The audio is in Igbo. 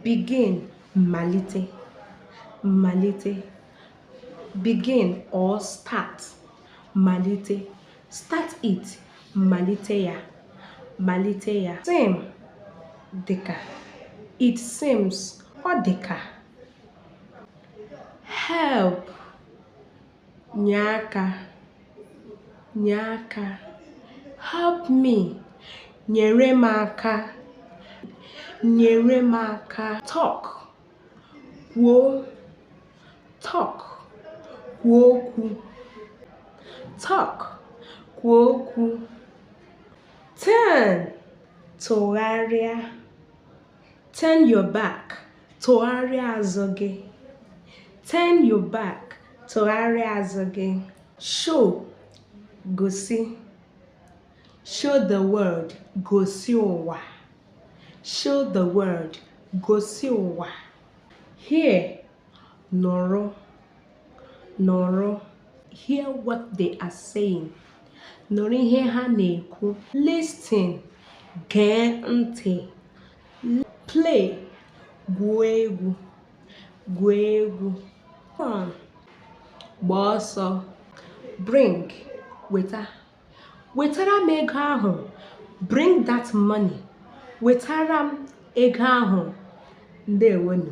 begin malite malite begin or start malite start it malite ya malite ya seem dịka it seems ọ dịka help nye aka nye aka help me nyere m aka nyere m aka talk kwuo talk kwuo okwu talk kwuo okwu turn tụgharịa turn your back tụgharịa azụ gị turn your back tụgharịa azụ gị show gosi show the world gosi ụwa show the world gosi ụwa hear nụrụ nụrụ hear what they are saying nụrụ ihe ha na-ekwu listen gee ntị play gwuo egwu gwuo egwu run gba ọsọ bring weta wetara m ego ahụ bring that money wetara m ego ahụ ndewonu